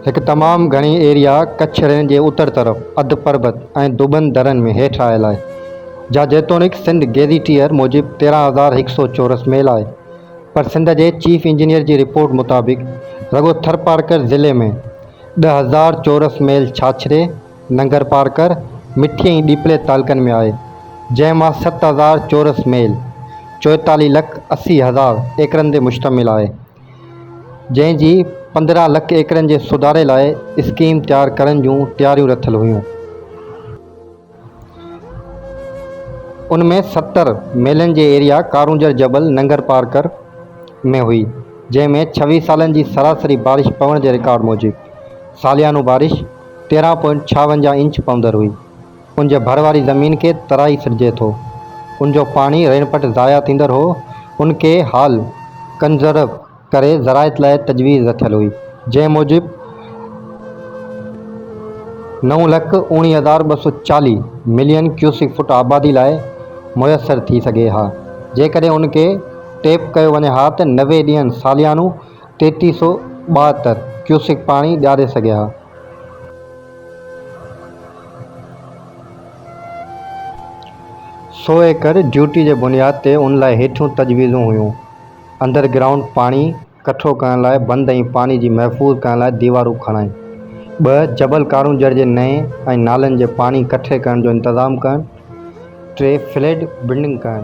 هڪ تمام گهڻي ايريا ڪڇ رين جي اتر طرف اڌ پربت ۽ دٻن درن ۾ هيٺ آيل آهي، جا جيتوڻيڪ سنڌ گيزيٽيئر موجب تيرهن هزار هڪ سؤ چورس ميل آهي، پر سنڌ جي چيف انجنيئر جي رپورٽ مطابق رڳو ٿرپارڪر ضلعي ۾ ڏهه هزار چورس ميل ڇاڇري، ننگر پارڪر مٺي ۽ ڏيپلي تعلقن ۾ آهي، جنهن مان ست هزار چورس ميل، چوئيتاليهه لک اسي هزار، ايڪڙن تي مشتمل آهي، جنهن جي پندرهن لک ايڪڙن جي سڌاري لاء اسڪيم تيار ڪرڻ جون تياريون رٿل هيون. ان ۾ ستر ميلن جي ايريا ڪارونجهر جبل ننگر پارڪر ۾ هئي، جنهن ۾ ڇويهه سالن جي سراسري بارش پوڻ جي رڪارڊ موجب ساليانو بارش، تيرهن پوائنٽ ڇاونجاهه انچ پوندر هئي. ان جي ڀر واري زمين کي ترائي سڏجي ٿو. ان جو پاڻي رينپٽ ضايع ٿيندڙ هو. ان کي حال ڪنزرو ڪري زراعت لاء تجويز رٿيل هئي. جنهن موجب نو لک اوڻيهه هزار ٻه سؤ چاليهه ملين ڪيوسڪ فوٽ آبادي لاء ميسر ٿي سگهي ها. جيڪڏهن ان کي ٽيپ ڪيو وڃي ها ته نوي ڏينهن ساليانو ٽيٽي سؤ ٻاهتر ڪيوسڪ پاڻي ڏياري سگهيا ها. سؤ ايڪڙ ڊيوٽي جي بنياد تي ان لاء هيٺيون تجويزون هيون، انڊر گرائونڊ پاڻي ڪٺو ڪرڻ لاء بند ۽ پاڻي جي محفوظ ڪرڻ لاء ديوارون کڻائين، ٻه جبل ڪارونجهر جي نئين ۽ نالن جي پاڻي ڪٺي ڪرڻ جو انتظام ڪرڻ، ٽي فليڊ بلڊنگ ڪرڻ.